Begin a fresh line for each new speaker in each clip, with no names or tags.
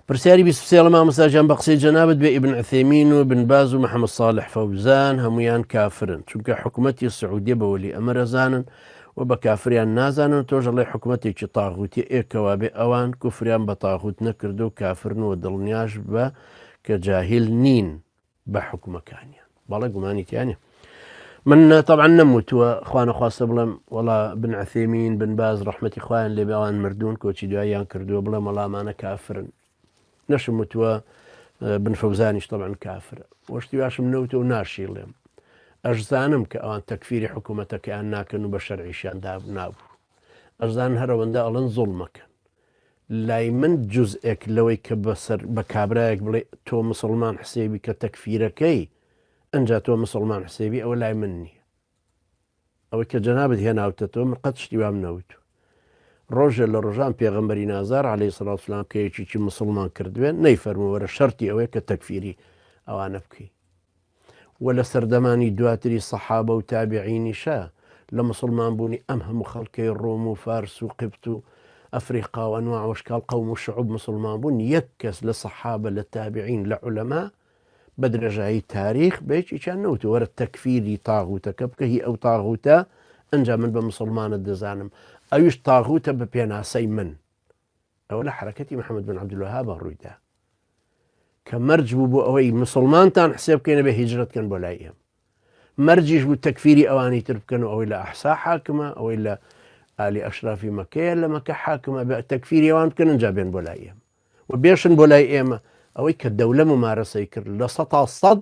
پرسیاری بیست و سێ ڵە مامۆستا جان بە قسەی جەنابت بێ ئیبن عثێمین و بن باز و محەممەد صالح فەوزان هەمویان کافرن چونکە حکومەتی سعودیە بە وەلی ئەمر ئەزانن و بە کافریان نازانن و تۆش ئەڵێی حکومەتێکی طاغوتیە ئێ کەوابێ ئەوان کوفریان بە طاغوت نەکردووە و کافرن و دڵنیاش بە کە جاهیل نین بە حکومەکانیان بەڵێ گومانی تیانە من تەعاان نەموتووە خوانەخواستە بڵێم وڵا بن عثێمین بن باز ڕحمەتی خۆیان لێ بەوان مردوون کۆچی دوایان کردووە بڵێ مەڵامانە کافرن نەشم وتووە بن فەوزانیش تەعاان کافرە وەشتی باشم نەوتە و ناشی ڵێم ئەشزانم کە ئەوان تەکفیری حکوومەتەکەیان ناکەن و بە شەرعیشیان داب نابوو ئەشزان هەرەوەندە ئەڵەن زۆڵمەکەن لای من جزئێک لەوەی کە بەسەر بە کابرایەک بڵێ تۆ مسوڵمان حسێبی بکە تەکفیرەکەی ئەنجا تۆ مسوڵمان حسێبی ئەوە لای من نیە ئەوەی کە جەنابت هێناوتەتەوە من قەت شتی وام نەوتو ڕۆژێ لە ڕۆژان پێغەمبەری نازار عەلەی سڵاوسلام کە یەکیی مسلمان کردوێن نەیفەرمووەرە شەرتی ئەوەیە کە تەکفیری ئەوانە بکەی وە لە سەردەمانی دواتری سەحابە و تابعینیشە لە موسڵمان بوونی ئەم هەموو خەڵکەی ڕۆم و فارس و قبت و ئەفریقا و ئەنواع و ئەشکاڵ قەوم و شعوب موسڵمان بوون یەک کەس لە سەحابە لە تابعین لە عولەما بە درێژایی تاریخ بە یەکێکیان نەوتوە وەرە تەکفیری تاغوتەکە بکە هی ئەو تاغوتە ئەنجا من بە موسڵمانت دەزانم ئەویش تاغوتە بە پێناسەی من ئەوە لە حرەکەتی محەممەد بن عبدلوهابە ڕوویدا کە مەرج بوو بۆ ئەوەی مسلمانتان حسێ بکەینە بە هیجرت کەن بۆ لای ئێم مەرجیش بوو تەکفیری ئەوانی تر بکەن و ئەوەی لە ئەحسا حاکمە ئەوەی لە ئالی ئەشرافی مەکەیە لە مەکە حاکمە بە تەکفیری ئەوان بکەن جا بێن بۆ لای ئێم و بێشن بۆ لای ئێمە ئەوەی کە دەولە ممارەسەی کرد لە سە تا سەد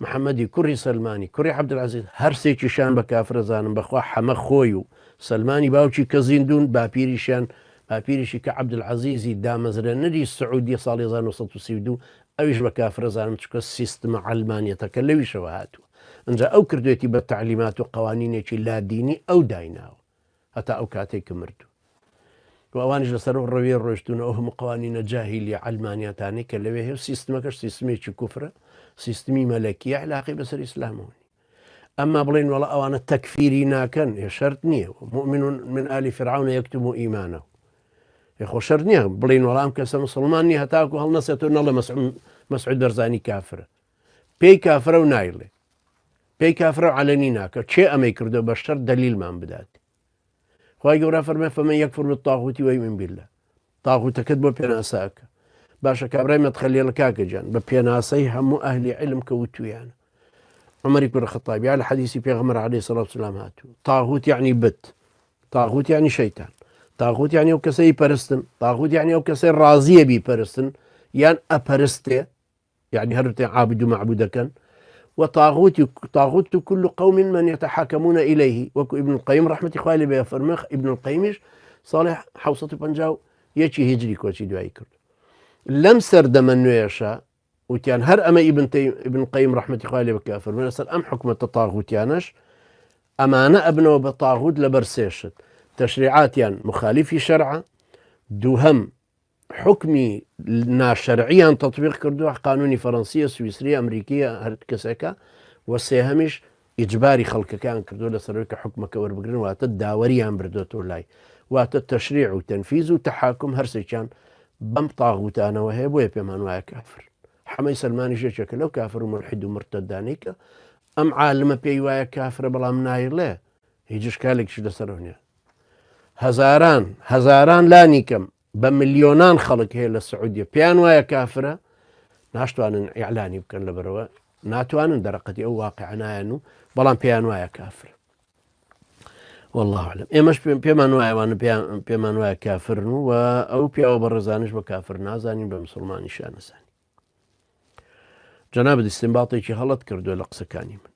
محمدی کوڕی سەلمانی کوڕی عبدالعزیز هەر سێکیشان بە کافرەزانم بەخوا حەمە خۆی و سەلمانی باوکی کە زیندوون باپیریشیان باپیریشی کە عبدالعزیزی دامەزرێنەری سعودیە ساڵی هەزار و نۆ سەد و سی و دوو ئەویش بە کافرەزانم چونکە سیستمە عەلمانیەتەکە لەویشەوە هاتووە ئنجا ئەو کردوێتی بە تەعلیمات و قەوانینێکی لادینی ئەو دایناوە هەتا ئەو کاتەی کە مرد و ئەوانیش لەسەر ئەو ڕەویە ڕۆشتونە ئەو هەموو قوانینە جاهیلی عەلمانیاتانەی کە لەوێ هەیە سیستمەکەش سیستمێکی کوفرە سیستمی مەلەکیە علاقی بەسەر ئیسلامەوە ئەمما بڵێن وڵە ئەوانە تەکفیری ناکەن هێ شەرت نییە مؤمن من ئالی فرعون یەکتم و ئیمانە خۆ شەر نییە بڵین وەڵام کەسە مسلمانی هەتاکو هەڵ نەسێت و نەڵە مەسعود دەرزانی کافرە پێی کافرە و نایڵێ پێی کافرە و عەلەنی ناکە چێ ئەمەی کردو بەشتر دەلیلمان بدات خی گەورە فەرمە فەمە یەک فرم تاغوتی وی من بیلە تاغوتەکەت بۆ پێناساکە باشە کابرای مەتخەلێڵە کاکەجان بە پێناسەی هەموو ئەهلی علم کە وتویان عمری کوڕ خطابیا لە حەدیسی پێغمەر علی سەڵات سلام هاتوو تاغوت یعنی بت تاغوت ینی شەیتان تاغوت یانی ئەو کەسەی پەرستن تاغوت یانی ئەو کەسەی ڕازیە بی پەرستن یان ئەپەرستێ یەعنی هەر تێ عابد و مەعبود دەکەن و طاغوتی و طاغوت و کل قوم من يتحكمون إليه وەکو ابن القیم رحمەتی خوای لێ بێ فەرمێخ ابن القیمیش ساڵی 1950 یەکی هجری کۆچی دوایی کرد لەم سەردەمە نوێشە وتیان هەر ئەمە ئیبن ابن قیم رحمەتی خوای لێ بکە فەرمێ لەسەر ئەم حکوومەتە طاغوتیانەش ئەمانە ئەبنەوە بە طاغوت لەبەر سێشت تەشریعاتیان مخالیفی شەرعە دووهم حوکمی ناشەرعیان تەطبیق کردووە قانونی فەرەنسیە سویسری ئەمریکیە هەر کەسەکە و سێهەمیش ئیجباری خەڵکەکان کردو لە سەرۆکە حکومەکە وەربگرن واتە داوەریان بردۆتەوە لای واتە تەشریع و تەنفیز و تەحاکم هەرسێکیان بەم تاغوتانەوە هەیە بۆیە پێمان وایە کافر حەمەی سلمانی ژێکێکە لەو کافر و مرحید و مرتدانێکە ئەم عالمە پێی وایە کافرە بەڵام نایڵێ هیچ شکالێکیش لەسەرۆنیە هەزاران هەزاران لانی کەم بە ملیۆنان خەڵک هەیە لە سعودیە پێیان وایە کافرە ناشتوانن ئیعلانی بکەن لە بەرەوە ناتوانن دەرەقەتی ئەو واقعنایەن و بەڵام پێیان وایە کافر والله علم ئێمەش پێمان وایوانە پێمان وایە کافرن و ئەو پیاوە بە ڕێزانش بە کافر نازانین بە مسلمانی شانەسانی جەنا بدیستم باڵێکی هەڵت کردو لە قسەکانی من